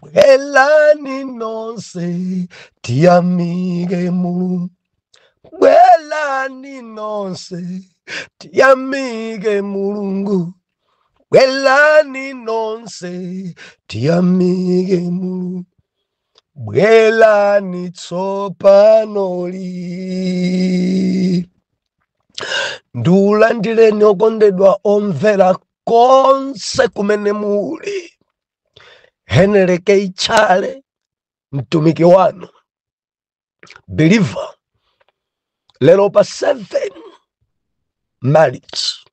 Bwelani nonse tiyamike Mulungu. Bwelani nonse tiyamike Mulungu. Bwelani nonse tiyamike Mulungu. Bwelani tsopano lino. Ndiulandireni okondedwa omvera konse kumene muli Henry K. Chale mtumiki wanu believer lero pa 7 March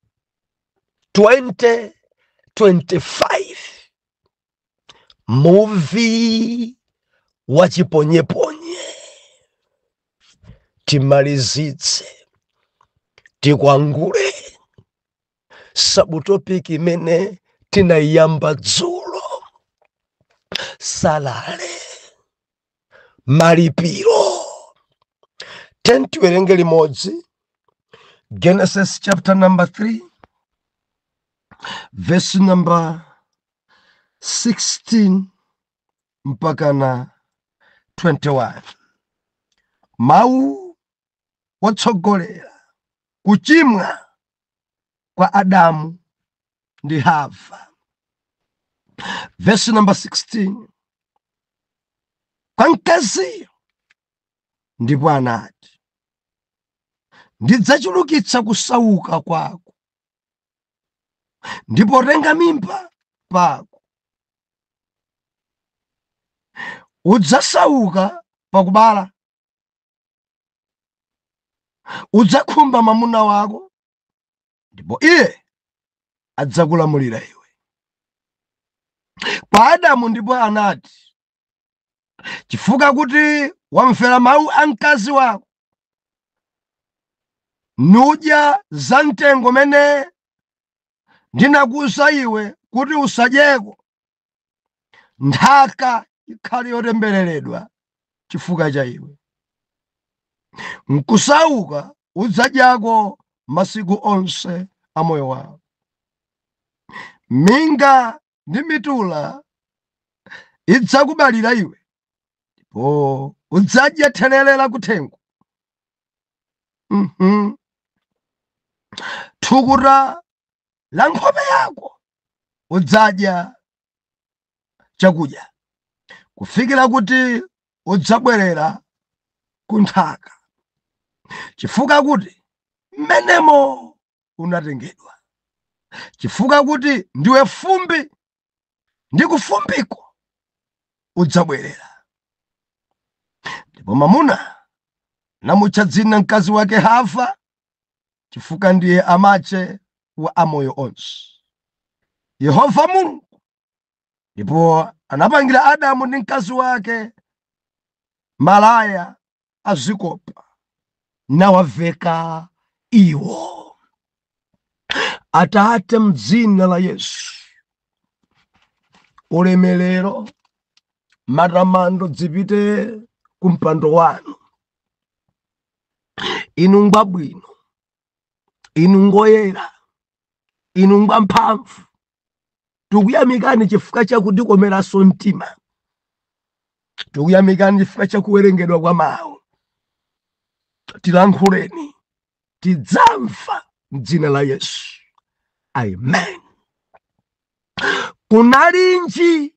2025 muvi wa chiponyeponye timalizitse tikwangule sabutopiki imene tinaiyamba dzulo salale malipiro tiwerenge limodzi genesis chapter number 3 verse number 16 mpaka na 21 mau wotsogolera kuchimwa kwa Adamu ndi Hava. Vesi namba 16 kwa mkaziyo ndipo anati, ndidzachulukitsa kusauka kwako ndi potenga mimba pako, udzasauka pakubala udzakhumba mwamuna wako ndipo iye adzakulamulira iwe kwa adamu ndipo anati chifukwa kuti wamvera mawu a mkazi wako nudya za mtengo umene ndinakuuza iwe kuti usadyeko nthaka ikhale yotembereredwa chifukwa cha iwe nkusauka udzadyako masiku onse a moyo wako minga ndi mitula idzakubalira iwe ndipo udzadya therere la kuthengo mm -hmm. thukuta la nkhope yako udzadya chakudya kufikira kuti udzabwerera ku nthaka chifukwa kuti mmenemo unatengedwa chifukwa kuti ndiwe fumbi ndi kufumbiko udzabwerera ndipo mamuna anamutcha dzina mkazi wake hava chifukwa ndiye amache wa amoyo onse yehova mulungu ndipo anapangira adamu ndi mkazi wake malaya azikopa nawaveka iwo. Atate, mdzina la Yesu, ulemerero matamando dzipite ku mpando wanu. Inu ngwabwino, inu ngoyera, inu ngwamphamvu. tikuyamikani chifukwa cha kutikomeranso mtima tikuyamikani chifukwa cha kuwerengedwa kwa mawu tilankhuleni tidzamva mdzina la yesu amen kunalinji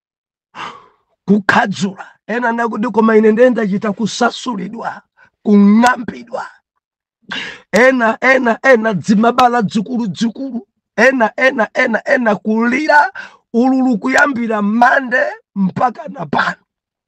kukhadzula ena akuti koma ine ndiye ndachita kusasulidwa kung'ambidwa ena ena ena dzimabala dzikuludzikulu ena ena ena ena kulira ululu kuyambira mande mpaka na pano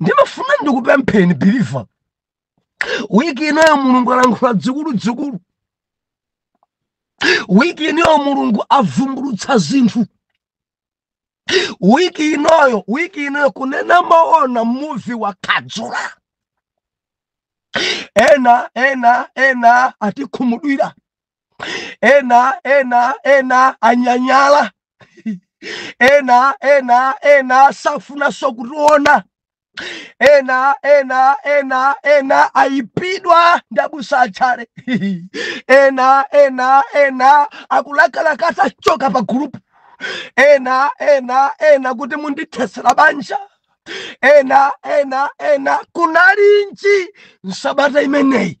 ndimafuna ndikupempheni biliva wiki inoyo mulungu alankhula dzikuludzikulu wiki inoyo mulungu avumbulutsa zinthu wiki inoyo wiki inoyo kunena maona muvi wa khadzula ena ena ena atikhumudwira ena ena ena anyanyala ena ena ena safuna sokutiona ena ena ena ena aipidwa ndabusa achale ena ena ena akulakalaka sachoka pa gulupu ena ena ena kuti mundithesera banja ena ena ena kunalinji nsabata imeneyi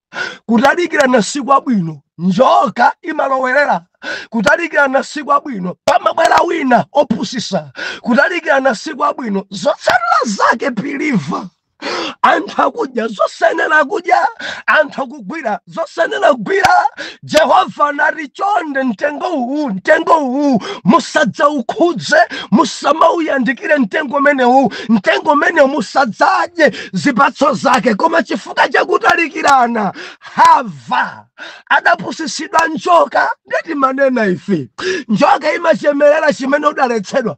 kutalikirana si kwabwino njoka imalowerera kutalikirana si kwabwino pamabwera wina opusisa kutalikirana si kwabwino zotsatira zake biliva anthu akudya zosayenera kudya anthu akugwira zosayenera kugwira jehova anati chonde mtengo uwu mtengo uwu musadzaukhudze musamauyandikire mtengo umenewu mtengo umenewu musadzadye zipatso zake koma chifukwa chakutalikirana hava adapusisidwa njoka nde timanena ife njoka imachemerera chimene udaletsedwa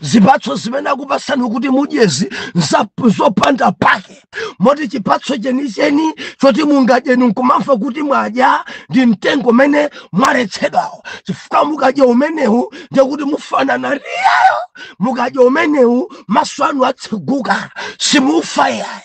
zipatso zimene akupasani kuti mudyezi nzopanda pake moti chipatso chenicheni choti mungadyeni nkumamva kuti mwadya ndi mtengo umene mwaletsedwawo chifukwa mukadya umenewu ndekuti mufanana ndi iyeyo mukadya umenewu maso anu atseguka simufa yayi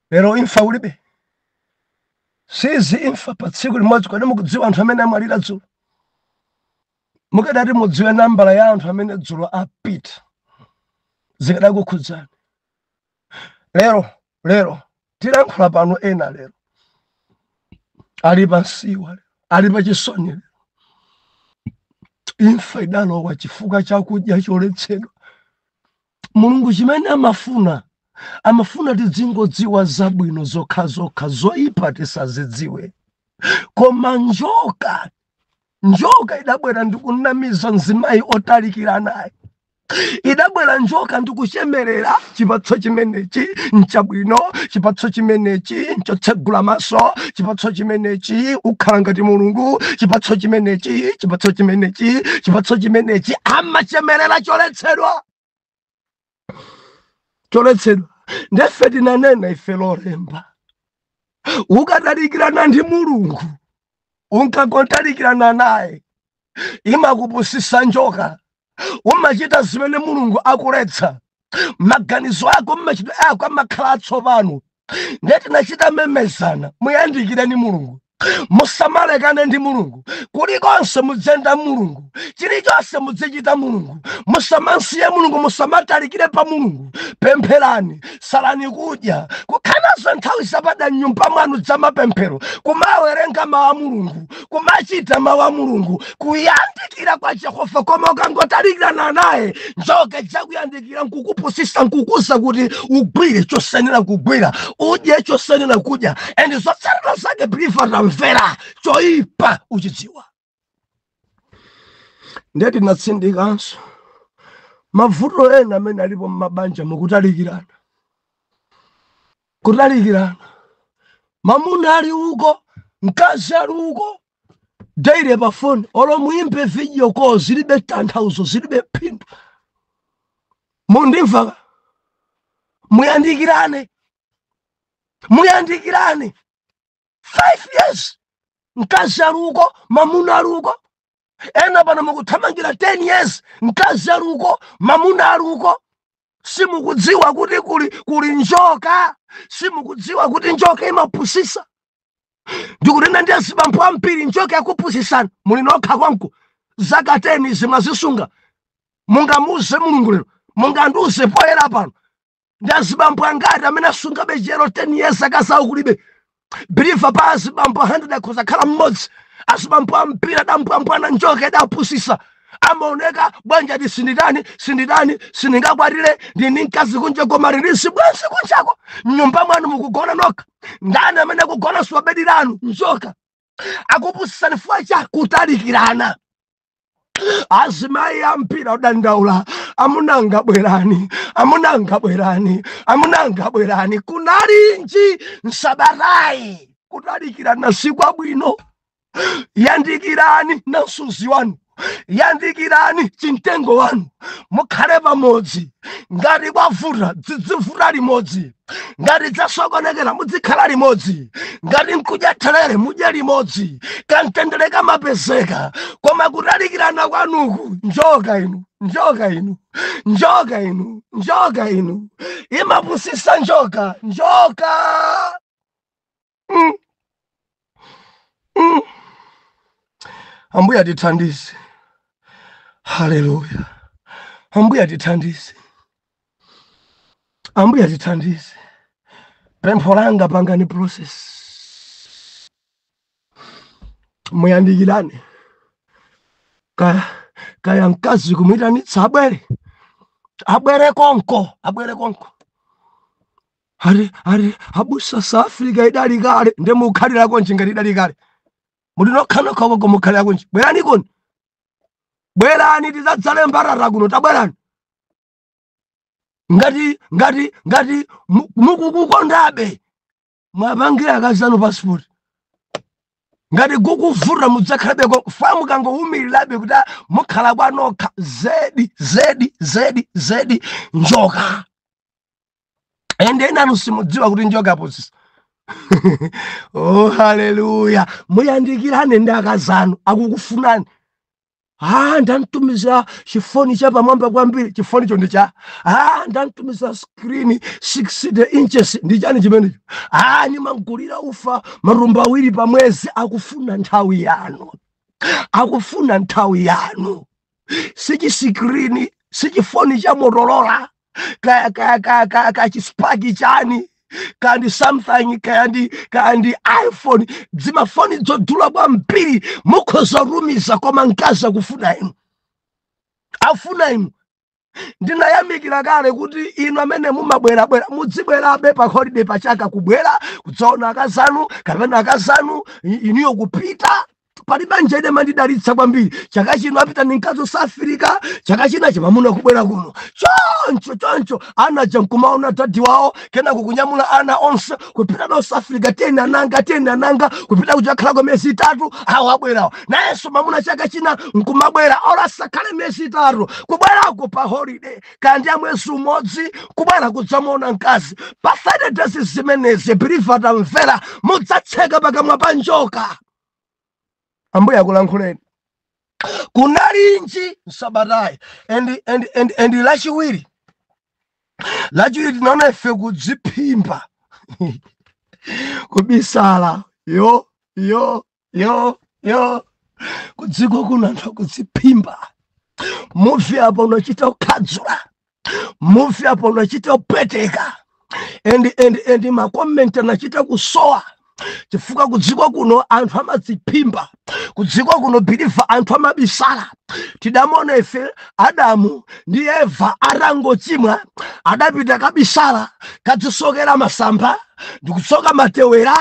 Lero imfa kulibe. Siizi imfa pa tsiku limodzi kodi mukudziwa anthu amene amwalira dzulo? Mukadati mudziwe nambala ya anthu amene dzulo apita zikadakukhudzani. Lero lero tilankhula pano ena lero ali pansiwa lero ali pachisoni lero imfa idalowa chifukwa chakudya choletsedwa Mulungu chimene amafuna, amafuna tidzingodziwa zabwino zokhazokha, zoyipa tisazidziwe. Koma njoka, njoka idabwera ndi kunamiza mzimayi otalikiranayo idabwera njoka ndi kuchemerera chipatso chimenechi nchabwino chipatso chimenechi nchotsegula maso chipatso chimenechi ukhala ngati mulungu chipatso chimenechi chipatso chimenechi chipatso chimenechi amachemerera choletsedwa choletsedwa ndefe tinanena ife lolemba ukatalikirana ndi mulungu ukangotalikirana naye imakupusisa njoka umachita zimene mulungu akuletsa maganizo ako mmachitidwe ako amakhala atsopano ndiye tinachita memezana muyandikireni mulungu musamalekane ndi mulungu kulikonse mudziyenda mulungu chilichonse mudzichita mulungu musamansiye mulungu musamatalikire pa mulungu pempherani salani kudya kukhala nazo nthawi zapadera mnyumba mwanu zamapemphero kumawerenga mawu a mulungu kumachita mawu a mulungu kuyandikira kwa jehova koma ukangotalikirana naye njoka idzakuyandikira nkukupusisa nkukuuza kuti ugwire chosayenera kugwira udye chosayenera kudya and zotsatira zake believer tamvera choyipa uchidziwa ndiye tinatsindikanso mavuto ena amene alipo mmabanja mukutalikirana Kutalikirana, mamuna ali uko, mkazi ali uko, daily pa phone, olo muimbe video call, zilibe tanthauzo, zilibe phindu. Mundimva ka? Muyandikirane, muyandikirane. Five years, mkazi ali uko, mamuna ali uko. Ena pano mukuthamangira 10 years, mkazi ali uko, mamuna ali uko. simukudziwa kuti kuli njoka simukudziwa kuti njoka imapusisa ndikunena ndi azibambo ambiri njoka yakupusisani muli nokha kwanuko zaka 10 zi mwazisunga mungamuuze mulungu lero mungandiuze poyera pano ndi azibambo angati amene asungabe chiyero 10 years akazawo kulibe believer pa azibambo 100 akhoza khala mmodzi azibambo ambiri adambwambwana njoka idapusisa amaoneka bwanji ati sinditani sinditani sindingakwatire ndili ndi mkazi kunja koma ali ndi chibwenzi kunjako mnyumba mwanu mukugona nokha ndani amene akugona si wa bedi lanu njoka akupusisani fukwa cha kutalikirana azimayi ambiri odandaula amuna anga bwerani amuna anga bwerani amuna anga bwerani kunalinji nsabatayi kutalikirana si kwabwino yandikirani na msuzi wanu yandikirani chimtengo wanu mukhale pamodzi ngati kwavuta dzidzivuta limodzi ngati dzasokonekera mudzikhala limodzi ngati nkudya therere mudye limodzi kamtendere kamapezeka koma kutalikirana kwanuku njoka inu njoka inu njoka inu njoka inu imapusisa njoka njoka Mm. Mm. Ambuye atithandize. Haleluya. Ambuye atithandize. Ambuye atithandize. Pempho langa pangani process. Muyandikirane. Ka kaya mkazi kumuitanitsa abwere. Abwere konko, abwere konko. ati ati abusa south africa idali kale nde mukhalirakonji ngati idali kale muli nokhanokha uko mukhalirakonji bweranikoni bwerani tizadzale mbatata kuno tabwerani ngati ngati ngati mu- mukukukondabe mwapangira akazanu passport ngati kukuvuta mudzakhalabe koma mukangowumirilabe kuti ah, mukhala kwanokha zedi zedi zedi zedi njoka ende enanu simudziwa kuti njoka apusisa oh haleluya muyandikirane ndi akazanu akukufunani ah ndamtumiza chifoni cha pamwamba kwambiri chifonicho ndi cha ah ndamtumiza screen 60 inches ndi chani chimenecho ah nimamgulira ufa matumba awiri pa mwezi akufuna nthawi yanu akufuna nthawi yanu sichisikrini sichifoni cha motorola kaya kaya kaya kaya kaya chisipaki chani kaya ndi samsung kaya ndi kaya ndi iphone dzimafoni dzodula kwambiri mukhoza tumiza koma mkazi akufuna inu afuna inu ndinayamikira kale kuti inu amene mumabwerabwera mudzibwerabe pa holiday pachaka kubwera kudzaona akazanu kapena akazanu i- inuyo kupita pali banja ine mandidalitsa kwambiri chaka chino apita ndi mkazi South Africa chaka china chimamuna kubwera kuno choncho choncho ana aja nkumaona dadi wawo kenako kunyamula ana onse kupita nawo South Africa tiyeni ananga tiyeni ananga kupita kuchakhalako miyezi itatu awo abwerawo nayenso mamuna chaka china nkumabwera olo asakhale miyezi itatu kubwerako pa holiday kaya ndi ya mwezi umodzi kubwera kudzamuona mkazi pa 30 days zimenezi believer tamvera mudzatseka pakamwa pa njoka ambuye akulankhuleni kunalinji msabatayi and, and, and, and lachiwiri lachiwiri tinaona ife kudziphimba kubisala yo yo yo yo kudziko kuno anthu akudziphimba muvi apo unachita kukhadzula muvi apo unachita kupweteka and, and, and makomenti anachita kusowa chifukwa kudziko kuno anthu amadziphimba kudziko kuno believer anthu amabisala tidamona ife adamu ndi eva atangochimwa adapita kabisala kadzisokera masamba ndikutsoka matewera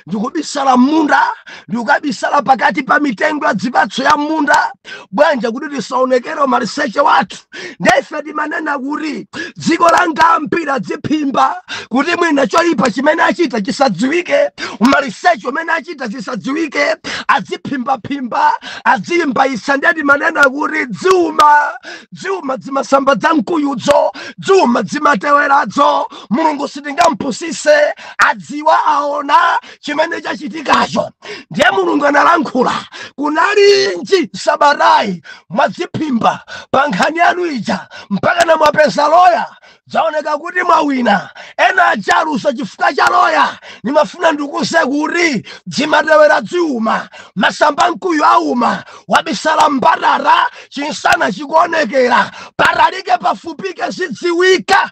ndikubisala m'munda ndikukabisala pakati pa mitengo ya dzipatso ya m'munda bwanja kuti tisaonekere umaliseche wathu nde ife timanena kuti dziko langa ampira dziphimba kuti mwina choyipa chimene achita chisadziwike umaliseche umene achita chisadziwike adziphimbaphimba adzizimbayisa ndiye timanena kuti dziuma dziuma dzimasamba dza mkuyudzo dziuma dzimateweradzo mulungu sitingampusise adziwa aona chimene chachitikacho ndiye mulungu analankhula kunalinji sabatayi mwadziphimba pa nkhani yanu ija mpakana mwapeza loya zaoneka kuti mwawina ena achaluza chifukwa cha loya nimafuna ndikuuze kuti dzimatewera dziuma masamba a mkuyu auma wabisala m'mbatata chinsana chikuonekera patalike pafupike zidziwika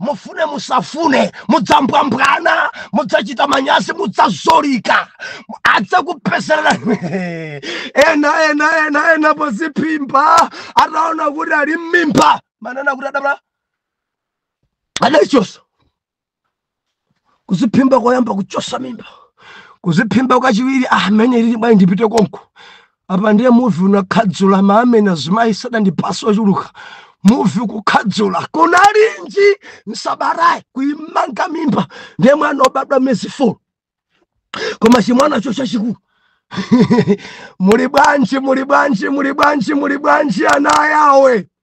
mufune musafune mudzambwambwana mudzachita manyazi mudzazolika adzakupezerera ena ena ena ena poziphimba ataona kuti ali mmimba manena kuti adabala adachosa kuziphimba koyamba kuchosa mimba kuziphimba kwachiwiri amene ah, lili bwayi ndipite konko apa ndiye muvi unakhadzula maamene azimayi sadandipasa ochuluka muvi kukhadzula kunalinji nsabatayi kuimanga mimba ndiye mwana obadwa mezi 4 koma chimwanacho chachikulu muli bwanji muli bwanji muli bwanji muli bwanji ana yawe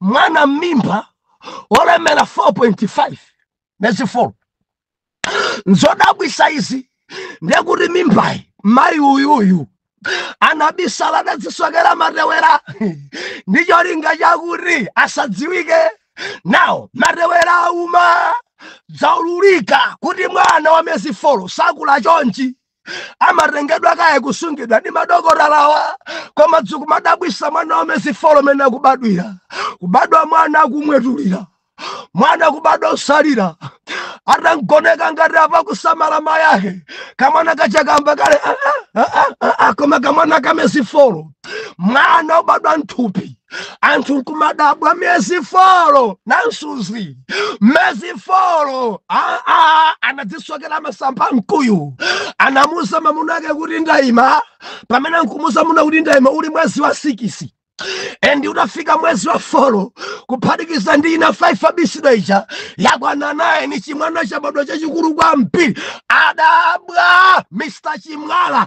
mwana mmimba olemera 4.5 miyezi 4 nzodabwisa izi ndekuti mimbayi mayi uyuyu anabisala nadzisokera matewera ndi cholinga chakuti asadziwike nawo matewera auma zaululika kuti mwana wa miyezi 4 sakula chonchi amatengedwa kaye kusungidwa ndi madokotalawa koma zikumadabwisa mwana wa miyezi folo mene akubadwira kubadwa mwana akumwetulira mwana kubadwa osalira atangoneka ngati apa kusamalawa mayake kamwana kachikamba kale ah, ah, ah, koma kamwana ka miyezi folo mwana ubadwa nthupi anthu nkumadabwa miyezi folo nansuzi miyezi folo anadzisokera masamba a mkuyu anamuuza mamuna ake kuti ndayima pamene ankamuuza mamuna kuti ndayima uli mwezi wa sikisi endi utafika mwezi wa folo kuphatikiza ndi ina 5 yabisidwa ija yakwana naini chimwana chabadwa chachikulu kwambiri adabwa mr chimwala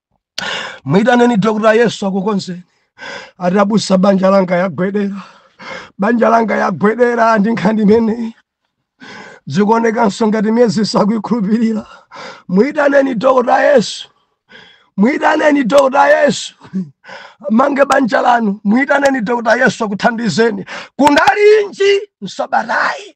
mwitaneni dokota yesu akukonzeni ati abusa banja langa yagwedera banja langa yagwedera ndi nkhani imeneyi zikuonekanso ngati miyezi sakuikhulupirira mwitaneni dokota yesu mwitaneni dokota yesu amange banja lanu mwitaneni dokota yesu akuthandizeni kunalinji msabatayi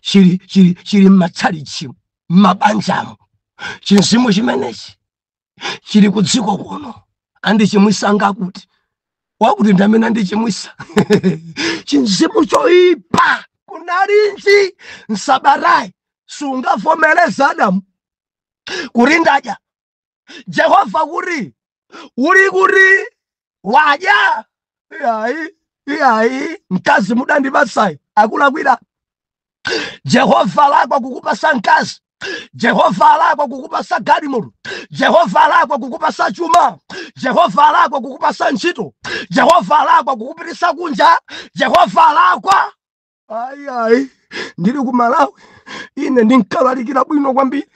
chili chili chili m'matchalitchi m'mabanjamo chinzimu chimenechi chili ku dziko kuno andichimwisa wakuti wakuti ndi amene andichimwisa chinzimu choipa kunalinji msabatayi sungavomereze adamu kuti ndadya jehova kuri uri kuri wadya iyayi iyayi mkazi mudandibasayi akulakwira jehova alakwa kukupasa mkazi jehova alakwa kukupasa galimoto jehova alakwa kukupasa chuma jehova alakwa kukupasa ntchito jehova alakwa kukupitisa kunja jehova alakwa ayi ayi ndili ku malawi ine ndinkalalikira bwino kwambiri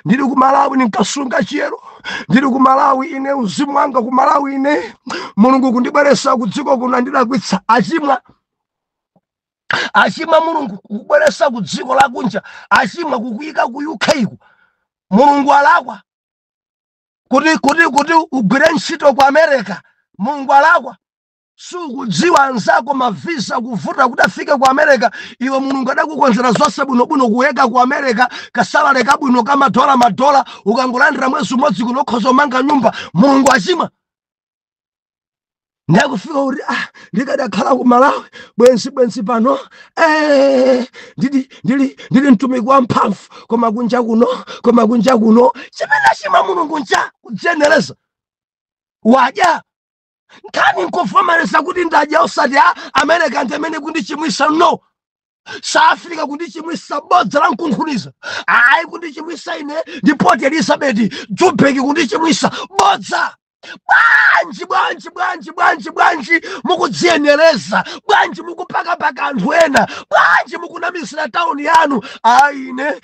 ndili ku malawi ndinkasunga chiyero ndili ku malawi ine uzimu wanga ku malawi ine mulungu kundibweresa ku dziko kuno andilakwitsa achimwa achimwa mulungu kukubweresa ku dziko lakunja achimwa kukuyika ku uk ko mulungu alakwa kuti kuti kuti ugwire ntchito ku america mulungu alakwa sukudziwa anzako mavisa kuvuta kuti afike ku america iwe mulungu adakukonzera zonse bwinobwino kuyika ku america kasalale kabwino kamadola madola ukangolandira mwezi umodzi kuno ukhoza kumanga nyumba mulungu achimwa ndiye kufika kuti ah, ndikadakhala ku malawi bwenzi bwenzi pano eh, ndili ndili ndili mtumiki wa mphamvu koma kunja kuno koma kunja kuno chimene achimwa mulungu ncha kudziyenereza wadya nkhani nkuvomereza kuti ndadya osati a amereka ndi amene kundichimwisa no south africa kundichimwisa bodza la nkunkhuniza ayi kundichimwisa ine ndi port elizabeth jubeki kundichimwisa bodza bwanji bwanji bwanji bwanji bwanji mukudziyenereza bwanji mukupakapaka anthu ena bwanji mukunamizira tauni yanu ayi ine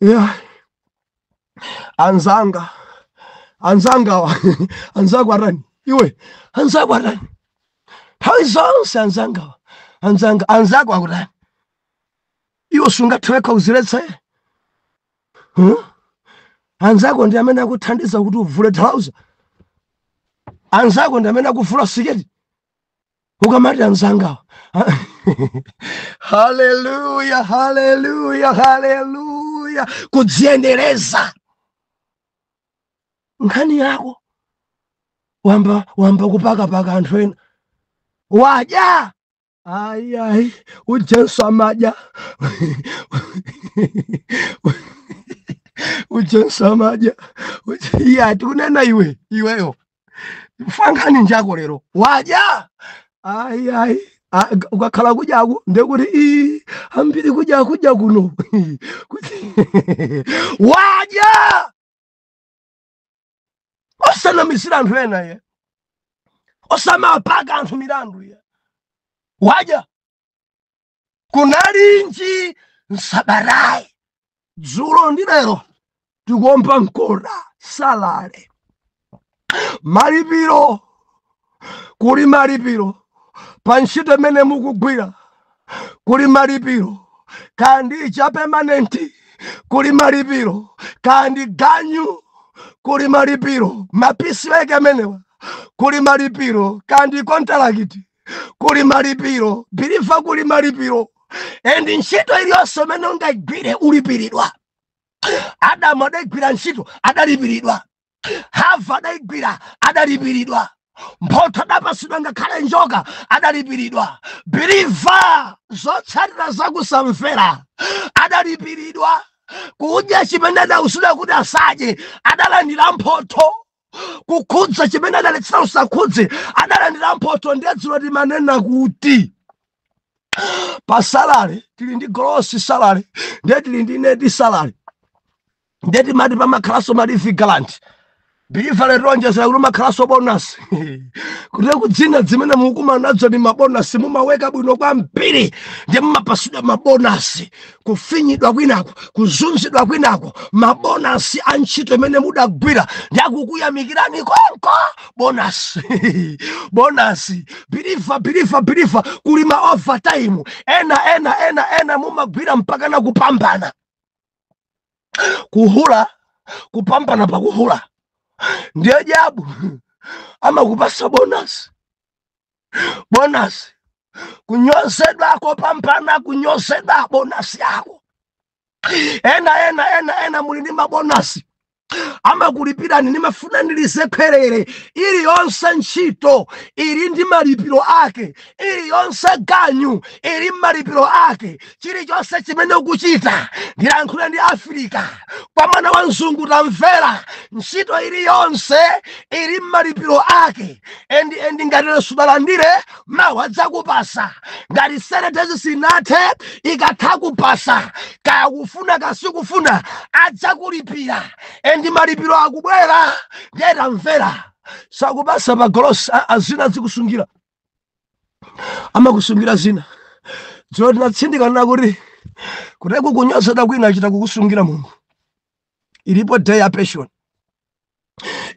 yeah. anzanga anzangawa anzako atani iwe anzako atani nthawi zonse anzangawa anzanga anzako akutani iwe sungathe wekha kuziletsa huh? anzako ndi amene akuthandiza kuti uvule thalauza anzako ndi amene akuvula siketi ukamati anzangawa haleluya haleluya haleluya kudziyenereza nkhani yako wayamba wayamba kupakapaka anthu ena wadya ayi ayi ujenso amadya ujenso amadya iyayi tikunena iwe iweyo fankhani njako lero wadya ayi ayi Ah, g- ukakhala kudyaku ndekuti ii ambiri kudya kudya kuno wadya osanamizira anthu ena ye osamapaka anthu milandu ye wadya kunalinji nsabatayi dzulo ndi lero tikuomba mkota salale malipiro kuli malipiro pa ntchito imene mukugwira kuli malipiro kaya ndi cha pemanenti kuli malipiro kaya ndi ganyu kuli malipiro mapisi weke amenewa kuli malipiro kaya ndi kontalakiti kuli malipiro biliva kuli malipiro and ntchito iliyonse imene ungayigwire ulipiridwa adamu adayigwira ntchito adalipiridwa hava adayigwira adalipiridwa mphotho adapasidwa ngakhale njoka adalipiridwa biliva zotsatira zakusamvera adalipiridwa kudya chimene adauzidwa kuti asadye adalandira mphotho kukhudza chimene adaletsedwa usakhudze adalandira mphotho ndiye dzulo timanena kuti pa salary tili ndi gross salary ndiye tili ndi net salary ndiye timati pamakhalanso ma leave grant biliva lero tionjezera kuti kumakhalanso bonasi kuti kuti zina zimene mukumana nazo ndi mabonasi mumaweka bwino kwambiri ndiye mumapasidwa mabonasi kufinyidwa kwinako kuzunzidwa kwinako mabonasi a ntchito imene mudagwira ndi akukuyamikirani konko bonasi bonasi biliva biliva biliva kuli ma overtime ena ena ena ena mumagwira mpakana kupambana kuhula kupambana pakuhula ndiye dyabu amakupasa bonasi bonasi kunyozedwa kopambana kunyozedwa bonasi yako ena ena ena ena muli ndi mabonasi amakulipirani ndimafuna ndilize khwerere iliyonse ntchito ili ndi malipiro ake iliyonse ganyu ili malipiro ake chilichonse chimene ukuchita ndilankhule ndi afirika kwa mwana wa mzungu tamvera ntchito iliyonse ili mmalipiro ake endi endi ngati lero sudalandire mawa adzakupasa ngati seven days sinathe ikatha kupasa kaya kufuna kasikufuna adzakulipira endi malipiro akubwera ndiye tamvera sakupasa magolosi a- zina azikusungira amakusungira zina dzulo tinatsindikana kuti kuti kukunyozedwa kwina achita kukusungira mulungu ilipo day ya pension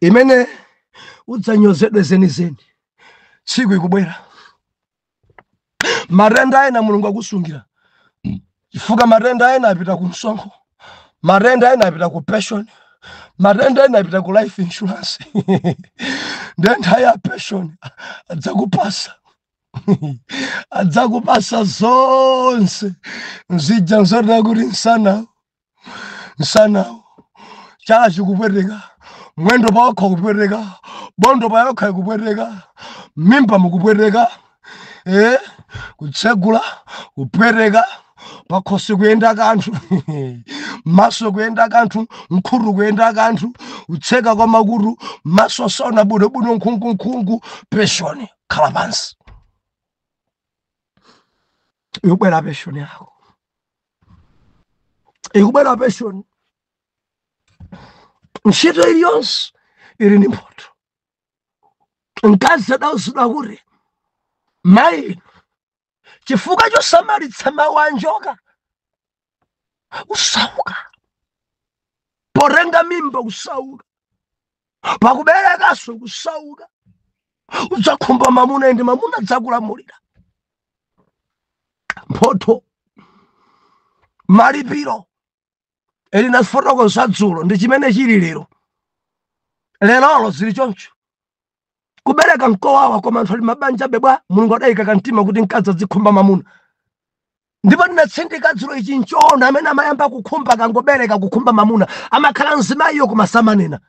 imene udzanyozedwe zenizeni tsiku ikubwera matenda ena mulungu akusungira chifukwa matenda ena apita ku msonkho matenda ena apita ku pension matenda ena apita ku life insurance ndiye nthawi ya pension adzakupasa adzakupasa zonse mzija nzotere kuti nsana msanawo chala chikupweteka mwendo pawokha kupweteka bondo payokha ikupweteka mimba mukupweteka eh? kutsegula kupweteka pakhosi kuyenda kanthu maso kuyenda kanthu mkhutu kuyenda kanthu kutseka kwa makutu maso saona bwinobwino nkhungunkhungu peshoni khala pansi yobwera peshoni yako ikubwera pension ntchito iliyonse ili ndi mphotho mkazi adauzidwa kuti mayi chifukwa chosamalitsa mawu a njoka kusauka potenga mimba kusauka pakuberekanso kusauka udzakhumba mamuna endi mamuna adzakulamulira mphotho malipiro e linafotokoza dzulo ndi chimene chili lero lerolo zili choncho kubereka nkowawa koma anthu ali mabanja bebwa mulungu adayika kamtima kuti mkazi azikhumba mamuna ndipo ndinatsindika dzulo ichi nchoona amene amayamba kukhumba akangobereka kukhumba mamuna amakhala mzimayiyo koma samanena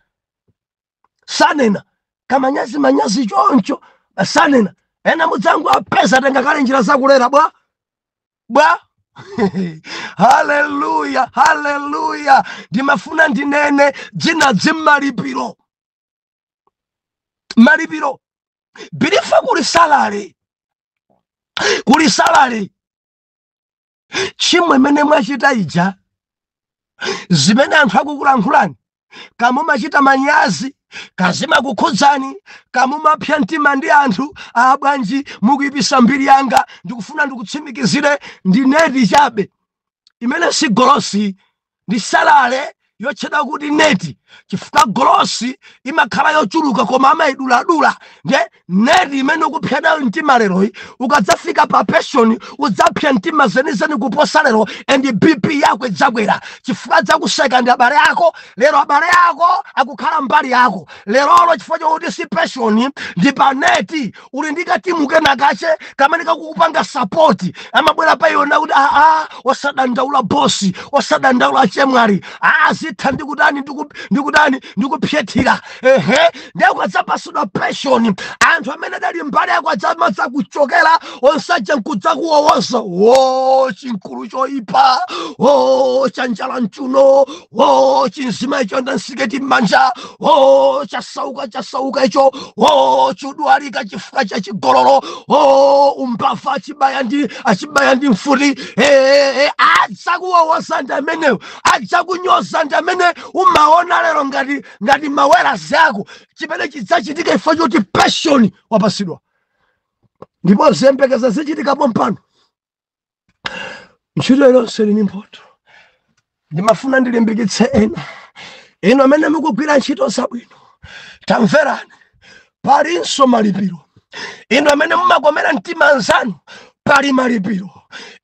sanena kamanyazi manyazi choncho sanena ena mudzangowapeza atenga kale njira zakulera bwa bwa haleluya haleluya ndimafuna ndinene dzina dzimmalipiro malipiro believer kuli salary kuli salary tchimo imene mwachita ija zimene anthu akukulankhulani ka mumachita manyazi ka zimakukhudzani ka mumapsa mtima ndi anthu aa bwanji mukuyipisa mbiri yanga ndikufuna ndikutsimikizire ndi net chabe imene si gross ndi salary yotchedwa kuti net chifukwa gross imakhala yochuluka koma amayiduladula nde net imene ukupsa nayo mtima leroyi ukadzafika pa pension udzapsa mtima zenizeni kuposa lero and bp yako idzakwera chifukwa adzakuseka ndi abale ako lero abale ako akukhala mbali yako lerolo chifukwa chokuti si pension ndi pa net uli ndi katimu kenakache kamene kakukupanga sapoti amabwera pa iwe nakuti aa osadandaula bosi osadandaula chemwari aa zitha ndikutani ndikutani ndikuphyethira ehe ndiye ukadzapatsidwa pension anthu amene adali mbali yako adzamadzakuchokera onse aja nkudzakuwowoza o chimkulu choipa o cha njala mchiuno o chimzimayi choyenda nsiketi mmanja o chasauka chasauka icho o chodwalika chifukwa cha chigololo o umbava achibaya ndi mfuti ee adzakuwowoza ndi amenewo adzakunyoza ndi amene umaona lero ngati mawerazi ako chimene chidzachitika chifukwa choti pension wapatsidwa ndipo ziyembekeza zichitika pompano ntchito iliyonse ili ndi mphotho ndimafuna ndilimbikitse ena inu amene mukugwira ntchito zabwino tamverani palinso malipiro inu amene mumakomera mtima anzanu pali malipiro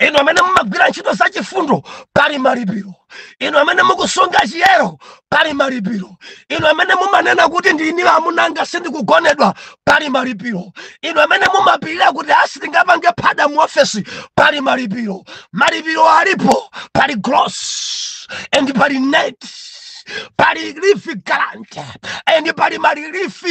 inu amene mumagwira ntchito zachifundo pali malipiro inu amene mukusunga chiyero pali malipiro inu amene mumanena kuti ndine wa amuna anga sindikugonedwa pali malipiro inu amene mumapirira kuti aa sitingapange phada mu ofesi pali malipiro malipiro alipo pali gross and pali net pali leave grant and pali ma relief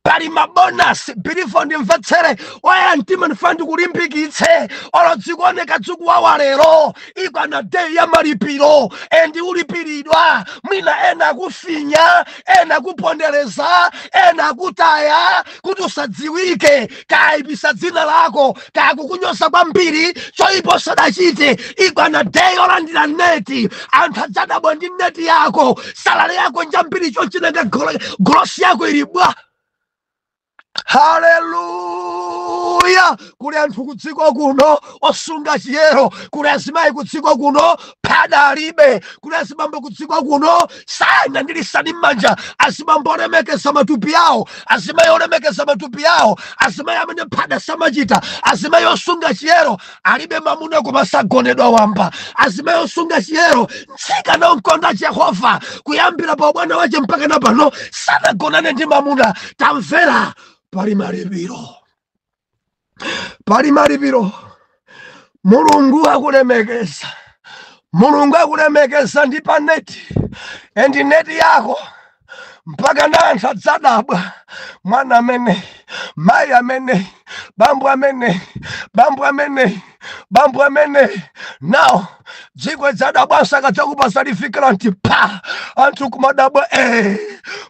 pali mabonasi believer ndimvetsere woyera mtima ndifuna ndikulimbikitse olo dzikuoneka dzikuwawa lero ikwana day ya malipiro endi ulipiridwa mwina ena akufinya ena akupondereza ena akutaya kuti usadziwike kaipisa dzina lako kakukunyoza kwambiri choipa sadachite ikwana day yolandira neti anthu adzadabwa ndi neti yako salale yako njambiri nanga golosi yako ili bwa haleluya kuli anthu kudziko kuno osunga chiyero kuli azimayi kudziko kuno phada alibe kuli azibambo kudziko kuno sana ndi lisani m'manja azibambo olemekeza matupi awo azimayi olemekeza matupi awo azimayi amene phada samachita azimayi osunga chiyero alibe mamuna koma sagonedwa wamba azimayi osunga chiyero mtsikana wokonda jehova kuyambira pa ubwana wache mpaka na pano sanagonane ndi mamuna tamvera pali malipiro pali malipiro mulungu akulemekeza mulungu akulemekeza ndi pa neti endi neti yako mpaka na anthu adzadabwa mwana amene mayi amene bambo amene bambo amene bambo amene nawo dziko dzadabwanso akadzakupatsa satifiketi pa anthu kumadabwa e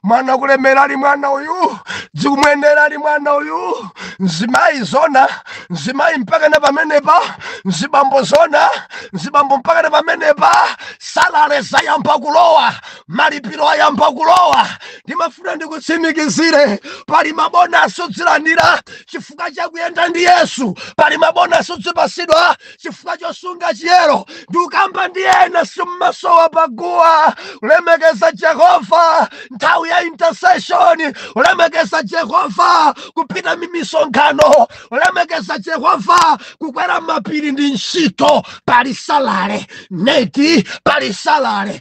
mwana kulemera ali mwana uyu zikumuyendera ali mwana uyu mzimayi zona mzimayi mpaka na pamenepa mzibambo zona mzibambo mpaka na pamenepa salale zayamba kulowa malipiro ayamba kulowa ndimafuna ndikutsimikizire pali mabonasi udzilandira chifukwa chakuyenda ndi yesu pali mabonasi udzipasidwa chifukwa chosunga chiyero ndikukamba ndi ena simmasowa paguwa ulemekeza jehova nthawi ya intercession ulemekeza jehova kupita mmisonkhano ulemekeza jehova kukwera mapiri ndi ntchito pali salale neti pali salale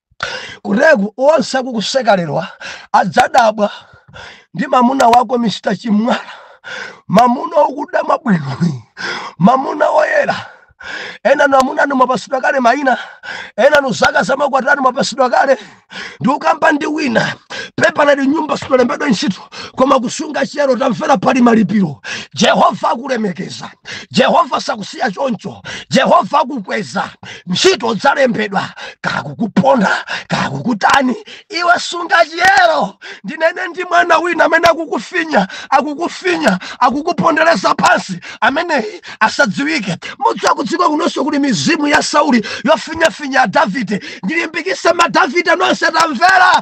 kureku onse akukuseka lero adzadabwa ndi mamuna wako mr chimwala mamuna okuda wabwino mamuna oyera enanu amuna anu mwapasidwa kale maina enanu zaka za makwati anu mwapasidwa kale ndikukamba ndi wina pepala ndi nyumba sitalembedwa ntchito koma kusunga chiyero tamvera pali malipiro jehova akulemekeza jehova sakusiya choncho jehova akukweza ntchito zalembedwa kakukuponda kakukutani iwe sunga chiyero ndinene ndi mwana wina amene akukufinya akukufinya akukupondereza pansi ameneyi asadziwike mudziwa kudziko kunonso kuli mizimu ya sauli yofinyafinya davide ndilimbikise madavide nonse tamvera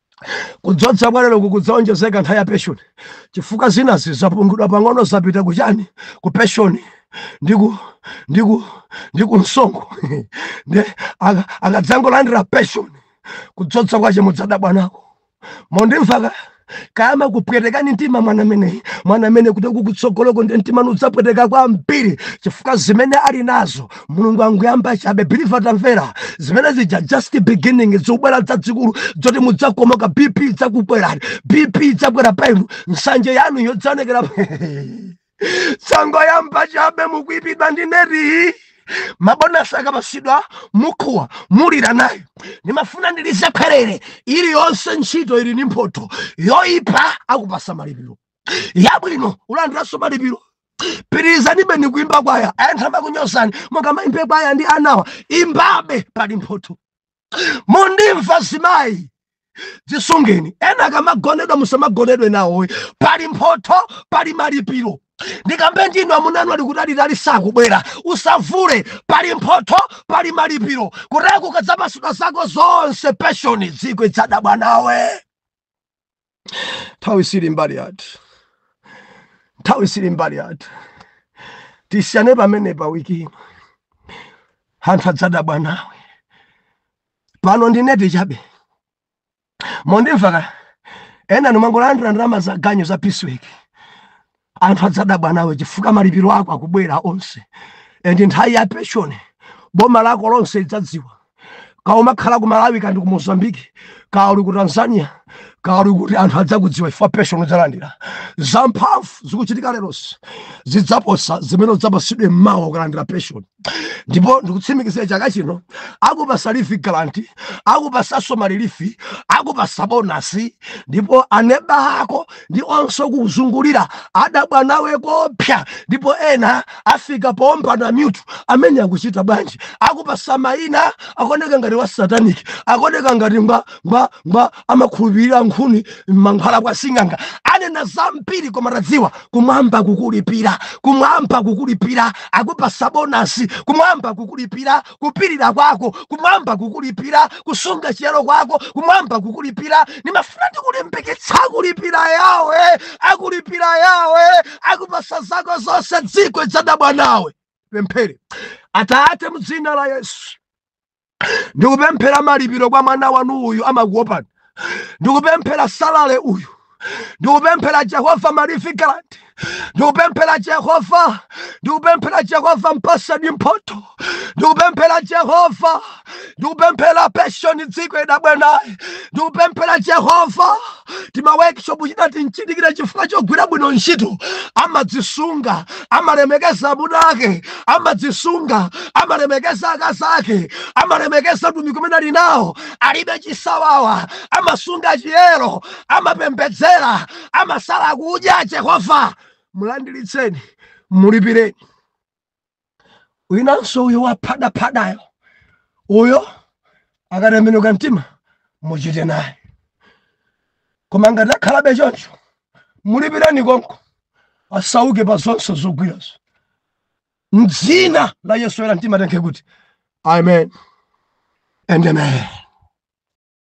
kudzodza kwa lero kukudzaonjezeka nthawi ya peshoni chifukwa zinazi zapungulidwa pang'ono zapita kuchani ku peshoni ndi ku ndi ku ndi ku msonkho nde aka- akadzangolandira peshoni kudzodza kwache mudzadabwa nako mondimva kodi akamakhala kupwetekani mtima mwana ameneyi mwana amene kuti kukutsogoloko ndi mtima nudzapweteka kwambiri chifukwa zimene ali nazo mulungu anguyamba chabe believe tamvera zimene zija just beginning zobwera zazikulu zoti mudzakomoka bp idzakukwerani bp idzakwera pa inu nsanje yanu idzaonekera sangoyamba chabe mukuipidwa ndi neti mabonasi akapasidwa mukuwa mulira naye ndimafuna ndi declare iliyonse ntchito ili ndi mphotho yoipa akupasa malipiro yabwino ulandiranso malipiro pitirizanibe ni kuimba kwaya anthu amakunyozani mukamaimba kwaya ndi anawa imbabe pali mphotho mundimva mzimayi dzisungeni ena akamagonedwa musamagonedwe nawo pali mphotho pali malipiro ndikambe ndinu amunanu ali kutalitali sakubwera usavule pali mphotho pali malipiro kuti akadzapasidwa zako zonse peshoni dziko idzadabwa nawe nthawi sili mbali yathu nthawi sili mbali yathu tisiyane pamene pa wiki ino anthu adzadabwa nawe pano ndi neti chabe mondimvaka ena mumangolandira ndalama za ganyu za piece work anthu adzadabwa nawe chifukwa malipiro ako akubwera onse and nthawi ya pension boma lako lonse lidzadziwa kaya umakhala ku malawi kaya ndi ku mozambique kaya uli ku tanzania kaya uli kuti anthu adzakudziwa chifukwa pension udzalandira zamphamvu zikuchitika lerosi zidzaposa zimene udzapasidwe mmawa ukalandira pension ndipo ndikutsimikizira chaka chino akupasa leave grant akupasaso ma relief akupasa bonasi ndipo aneba ako ndi onse kuzungulira adabwa nawe koopsa ndipo ena afika poomba mmutu ameneyu akuchita bwanji akupasa maina akoneka ngati wa satanic akoneka ngati ngwa ngwa ngwa amakhulupirira nkhuni mankhwala kwa sing'anga anena zambiri koma tadziwa kumwamba kukulipira kumwamba kukulipira akupasa bonasi kumwamba kukulipira kupirira kwako kumwamba kukulipira kusunga chiyero kwako kumwamba kukulipira ndimafuna ndikulimbikitsa akulipira yawe akulipira yawe akupasa zako zonse dziko lidzadabwa nawe pemphere atate mdzina la yesu ndikupemphera malipiro kwa mwana wanu uyu amakuopani ndikupemphera salale uyu ndikupemphera jehova malifikalandi ndikupemphera jehova ndikupemphera jehova mpasani mphoto ndikupemphera jehova ndikupemphera peshoni dziko idabwenayi ndikupemphera jehova tima workshop chinatinchitikira chifukwa chogwira bwino ntchito amadzisunga amalemekeza amuna ake amadzisunga amalemekeza akazi ake amalemekeza utumiki umene ali nawo alibe chisawawa amasunga chiyero amapembedzera amasala kudya jehova mulandilitseni mulipireni winanso uyo waphadaphadayo uyo akatembenuka mtima muchite naye koma ngati akhalabe choncho mulipireni konko asauke pa zonse zogwirazo mdzina la yesu oyera mtima anene kuti amen and amen